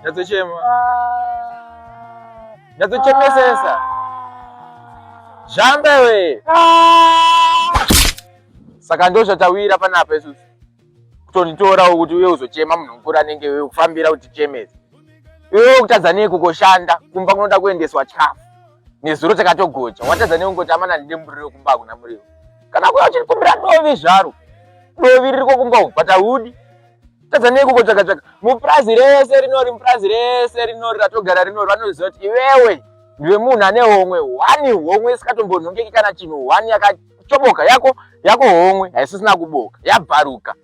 Nyatsochema. Nyatsochemesesa. Zhambe we. Saka ndo zvatawira panapa isusu. Kutonitora kuti uye uzochema munhu mukuru anenge wewe kufambira kuti chemese. Iwe ukutadza nei kukoshanda kumba kunoda kuendeswa chikafu. Nezuro takatogocha. Watadza nei kungoti amana ndide muriro kumba kuna muriro. Kana kuya uchikumbira dovi zvaro. Dovi riri kokumba ukwata hudi. tadza neiko kotsvaga tsvaga mupurazi rese rinori mupurazi rese rinori ratogara rinori vanoziva kuti iwewe ndiwe munhu ane homwe hwani homwe isingatombonhongeki kana chinhu hwani yakachoboka yako yako homwe haisisina kuboka yabvaruka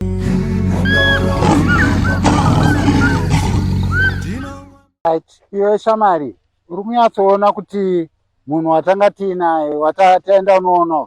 iwe shamari uri kunyatsoona kuti munhu watanga tiinaye wataenda unoona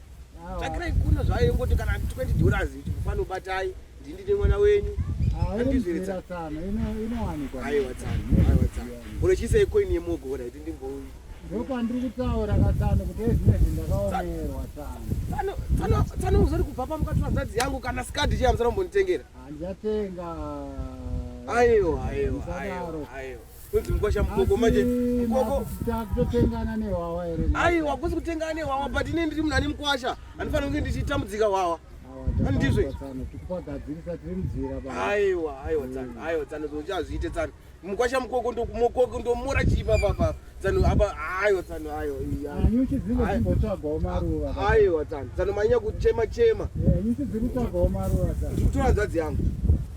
tsvakirai kuno zvayo yongoti kana 20 dollars chikufana ubatai ndindine mwana wenyu andizviritsa inowanikwa aiwa tsano aiwa tsano uri chiisei coin yemogo ora iti ndimboyi ndopandiri kutaura katsano kuti ezvine zvindakaomerwa tsano tsano tsano uzori kubva pamukati vanzadzi yangu kana skadi chiya musana kumbonditengera handichatenga aiwa aiwa aiwa aiwa Kunzi mkwasha mukoko manje mukoko takutotengana nehwawa here? Ai wakusi kutengana nehwawa but ine ndiri munhu ane mkwasha andifanira kunge ndichitambudzika hwawa andizve tikupagadzirisa tiri muzira baba aiwa aiwa tsano aiwa tsano zvochazviite tsano mukwasha mukoko ndokumokoko ndomora chii papa papa tsano apa aiwa tsano aiwa nyuchi dzinge dzimbotsvagawo maruva aiwa tsano tsano manyanya kuchema chema nyuchi dziri kutsvagawo maruva tsano ndikutora nzvadzi yangu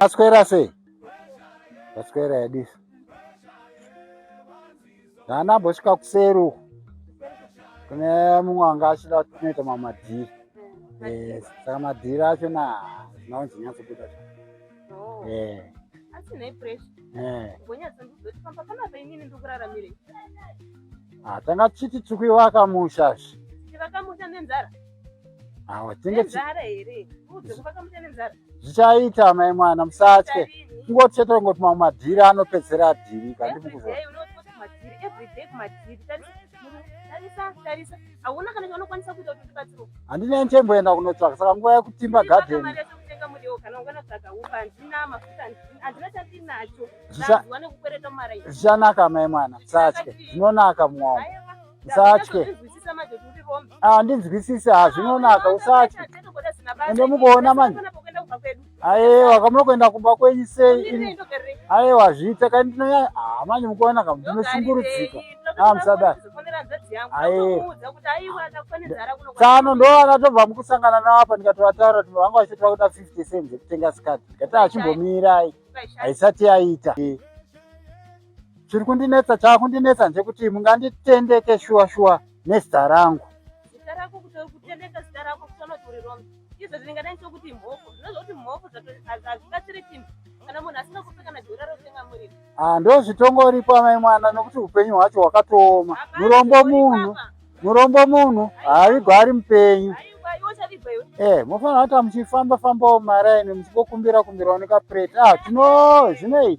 Aswera sei? Aswera yadisa. Ndana bosvika kuseri uko. Kune mumwe anga achida kunoita mamadhiri. Yes, saka madhiri acho na zvinonzi nyatso kuda. Oh. Eh. Asi nei pressure? Eh. Bonyatso ndizoti pamba kana painini ndikuraramire. Ah, tanga chiti chikuiwaka musha. Chivaka musha nenzara. zvichaita mai mwana musatye kungoti chete kungoti mamwe madhiri anopedzera adhiri kandi mukuzo handine ndichemboenda kunotsvaka saka nguva yekutimba garden zvichanaka mai mwana musatye zvinonaka mwaomo usatye handinzwisise ah, hazvinonaka usatye ende mukuona manje ayewa kamuno kuenda kumba kwenyu sei ayewa zviita kai ndinonyanya ah, manje mukuona kam ndinoshungurudzika ah, musadai tsano ndo akatobva mukusangana navo apa ndikatovataura kuti vanga vachitoda kuda fifty cents ekutenga sikati ndikati achimbomirai haisati yaita chiri kundinetsa chaakundinetsa ndechekuti munganditendeke shuwa shuwa nezita rangu zita rako kuti kutendeka zita rako kutoona kuti uri wrong izvo zvingadai chokuti mhofu zvinozva kuti mhofu hazvibatsiri chinhu kana munhu asina kupe kana dhora rotenga muriro ah, ndo zvitongoripo amai mwana nokuti upenyu hwacho hwakatooma murombo munhu murombo munhu haavigwa ari mupenyu eh mofanira kuti muchifamba fambawo maraini muchingokumbira kumbirawo nekaprete ah tino zvinei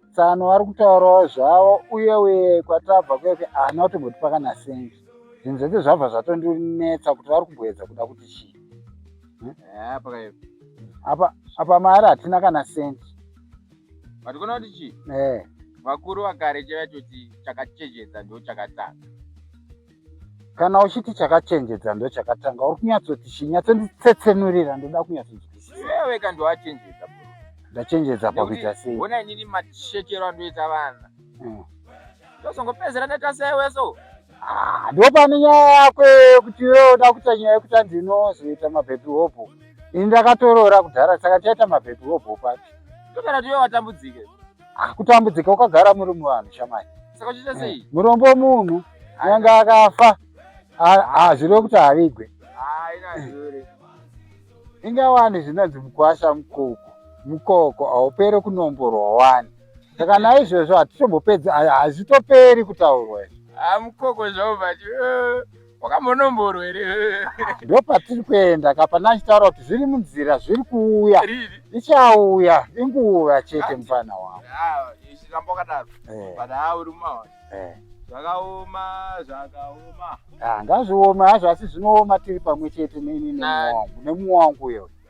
tsano vari kutaurawo zvavo uye uye kwatabva kweke ahana kutomboti pakana sengi zvinhu zvese zvabva zvatondinetsa kuti vari kumboedza kuda kuti chii hmm? eh, apa apa mari hatina kana sendi vatikona kuti chii eh. vakuru vakare chaiva choti chakachejedza ndo chakatanga kana uchiti chakachenjedza ndo chakatanga uri kunyatsoti chi nyatsonditsetsenurira ndoda kunyatsonzwisisaweka ndowachenjedza ndachenjedza pakuita sei ona inini mashekero andoita vana hmm. ndozongopedzera ndaita seweso ah, ndopane nyaya yako yekuti iwe uda kuita nyaya yekuti andinozoita mabhebhi hopo ini ndakatoroora kudhara saka tiaita mabhebhi hopo papi ndokana tiwe watambudzike Ah, kutambudzika ukagara muri muvanhu shamai saka uchiita eh, sei murombo munhu anyange akafa hazvireve kuti havigwe eh. inga wani zvinonzi mukwasha mukoko mukoko haupere kunomborwa wani saka naizvozvo hatitombopedzi hazvitoperi kutaurwa izvo ah, mukoko zvavo vati eh. wakamonomboro here ndo patiri kuenda ka pana achitaura kuti zviri munzira zviri kuuya ichauya inguva chete mufana wangu ramba wakadaro eh. but ha uri mumaona eh. zvakaoma zvakaoma ah, ngazvioma hazvo asi zvinooma tiri pamwe chete nemuwangu nemuwangu uyo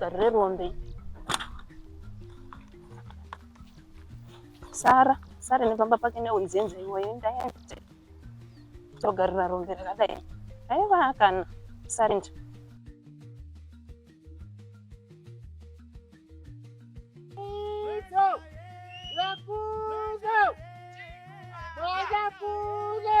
garire rombe sara sara nepamba pake neunzenza iwoyo ndaende togarira rombe rakadai aiva kana sarinja Macapuzo! Macapuzo!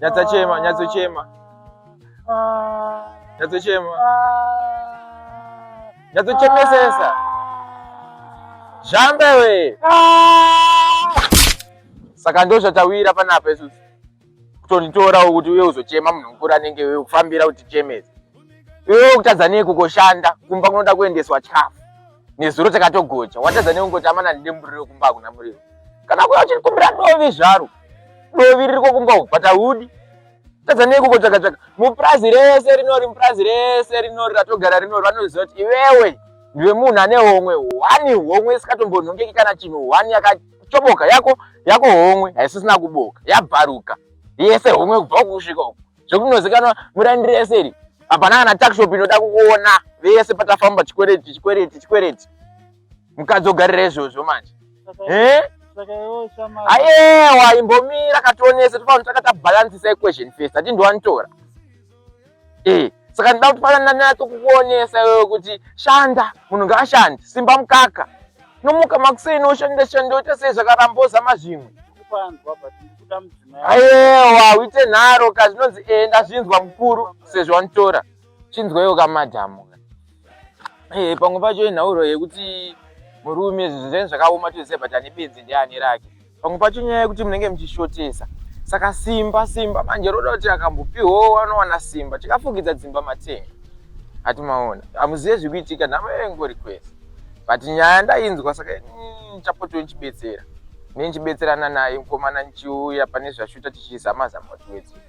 Nyatsochema, nyatsochema. Nyatsochema. Nyatsochemesesa. Zhambe we. Saka ndo zvatawira panapa isusu. Kutonitora kuti uye uzochema munhu mukuru anenge wewe kufambira kuti chemese. Iwe ukutadza nei kukoshanda kumba kunoda kuendeswa chikafu. Nezuro takatogocha. Watadza nei kungoti amana ndimburiro kumba kuna muriwo. Kana kuya uchikumbira ndovi zvaro. dovi riri kokumba uku but ahudi tadza nei kukotsvaga tsvaga mupurazi rese rinori mupurazi rese rinori ratogara rinori vanoziva kuti iwewe ndiwe munhu ane homwe hwani homwe isingatombonhongeki kana chinhu hwani yakachoboka yako yako homwe haisisina kuboka yabvaruka yese homwe kubva uku kusvika uku zvekuti munozikanwa murandi rese iri hapana kana takshop inoda kuona vese patafamba chikwereti chikwereti chikwereti mukadzi ogarira izvozvo manje eh? ayewa imbomira kationese tofanira takata balancisa equation first ati ndiwanitora eh saka ndida kuti pala ndanatso kukuonesa iwewe kuti shanda munhu ngaashandi simba mukaka nomuka makuseni oshanda shanda oita sei zvakaramboza mazvimwe ayewa uite nharo ka zvinonzi enda zvinzwa mukuru sezvo wanitora chinzwaiwo kamadhamu eh, pamwe pacho inhauro yekuti murume zvinhu zvenyu zvakaoma toziva but ane benzi ndiani rake pamwe pacho nyaya yekuti munenge muchishotesa saka simba simba manje roda kuti akambopiwawo wanowana simba tikafugidza dzimba matenga ati maona hamuzive zviri kuitika nhamo yengori kwese but nyaya ndainzwa saka mm, chapotiwo ndichibetsera nenichibetserana naye mukomana ndichiuya pane zvashuta tichizama zama kuti wedzera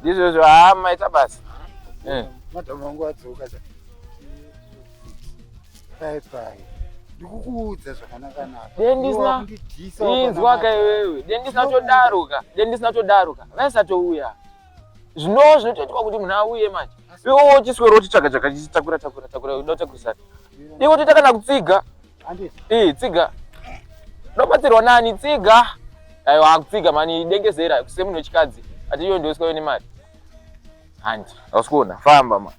ndizvozvo haa maita basa eh. madam wangu adzoka pai pai ndikukuudza zvakanakanakainzwaka iwewe dendisina todaruka dendisina todaruka vaisatouya zvinowo zvinotoitwa kuti munhu auye manje iwe wochiswero wotitsvaga chakachisitakura takura takura uda utakurisana iwe toita kana kutsiga Ii tsiga. Ndobatsirwa nani tsiga. Ayo akutsiga mani dengezera kusemunhu wechikadzi. Atiyo ndoswa yone mari. Handi. Ausikona famba ma.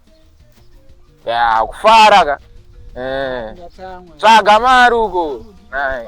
Ya kufara ka. Eh. Tsvaga mari uko. Nai.